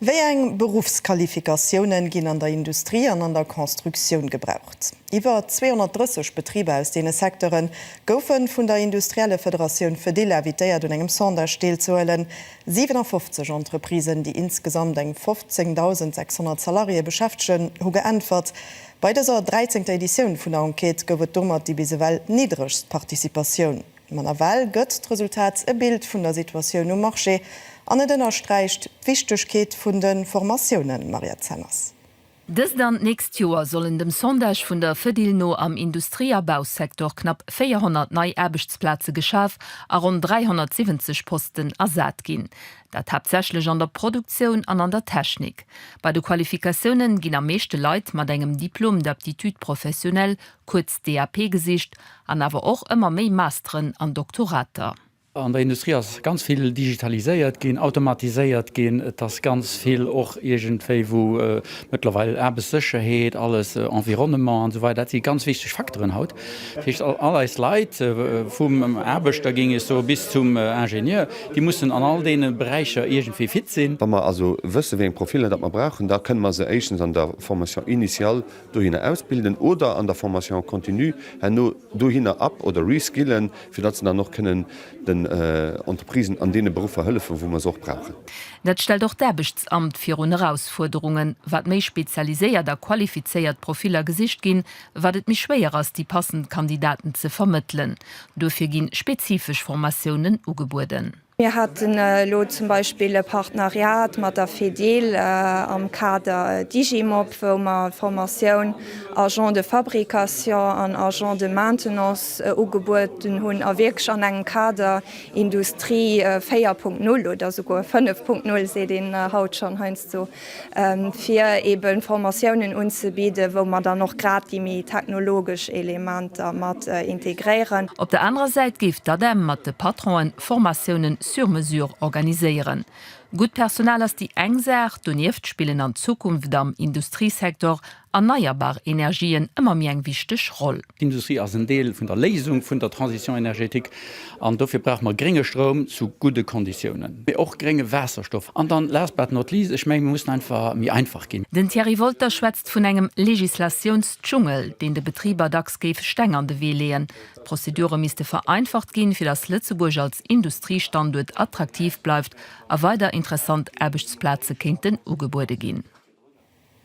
Wéi eng Beruffsqualifikatiounen ginn an der Industrie an an der Constructioun gebraucht? Iwwer 230 Betriber aus deene Secteure goufe vun der Industriellefederatioun Fedil invitéiert un engem Sondage deelzehuelen. 57 Entreprisen, déi insgesamt eng 15.600 Salariéë beschäftegen, hu geäntwert. Bei dëser dräizéngter Editioun vun der Enquête gouf et domat déi bis ewell niddregst Participatioun. Ma nawell gëtt d'Resultat e Bild vun der Situatioun um Marché an et ënnersträicht d'Wichtegkeet vun de Formatiounen, Mariette Zenners. Dëst an d'nächst Joer sollen dem Sondage vun der Fedil no am Industrie a Bausecteur knapp 400 nei Aarbechtsplaze geschaf a ronn 370 Posten ersat ginn. Dat haaptsächlech an der Produktioun an an der Technik. Bei de Qualifikatiounen ginn am meeschte Leit mat engem Diplôme d'aptitude professionnelle, kuerz DAP, gesicht an awer och ëmmer méi Masteren an Doktorater. An der Industrie ass ganz vill digitaliséiert ginn, automatiséiert ginn. Et ass ganz vill och iergendwéi wou mëttlerweil Aarbechtssécherheet, alles, Environnement an esou weider, dat si ganz wichteg Facteuren haut. Dat heescht, all eis Leit, vum Aarbechter, géing ech soen, bis zum Ingenieur, déi mussen an all deene Beräicher iergendwéi fit sinn. Wa mer also wëssen, wéi eng Profiller datt mer brauchen, da kënne mer se éischtens an der Formation initiale, dohinner ausbilden oder an der Formation continue herno dohinner up oder reskillen, fir datt se dann och kënnen den Entreprisen an deene Beruffer hëllefen, wou mer se och brauchen. Dat stellt och d'Aarbechtsamt virun Erausfuerderungen. Wat méi spezialiséiert a qualifizéiert Profiller gesicht ginn, wat et méi schwéier ass, déi passend Kandidaten ze vermëttelen. Duerfir gi spezifesch Formatiounen ugebueden. Mir haten elo zum Beispill e Partenariat mat der Fedil am Kader Digimop, wou mer d'Formatioun Agent de fabrication an Agent de maintenance ugebueden hunn a wierklech an engem Kader Industrie 4.0 oder souguer 5.0, seet een haut schonn heiansdo, fir eben Formatiounen unzebidden, wou mer dann och grad déi méi technologesch Elementer mat integréieren. Op der anerer Säit géif d'ADEM mat de Patronen Formatiounen sur mesure organiséieren. Gutt Personal ass déi eng Saach, donieft spillen an Zukunft am Industriesektor erneierbar Energien ëmmer méi eng wichteg Roll. D'Industrie ass en Deel vun der Léisung vun der Transition énergétique an dofir brauche mer grénge Stroum zu gudde Konditiounen, mee och grénge Waasserstoff. An dann, last but not least, ech menge mir mussen einfach méi einfach ginn. Den Thierry Wolter schwätzt vun engem Legislatiounsdschungel, deen de Betriber dacks géif Steng an de Wee leeën. D'Prozedure misste vereinfacht ginn, fir datt Lëtzebuerg als Industriestanduert attraktiv bleift a weider interessant Aarbechtsplaze kéinten ugebuede ginn.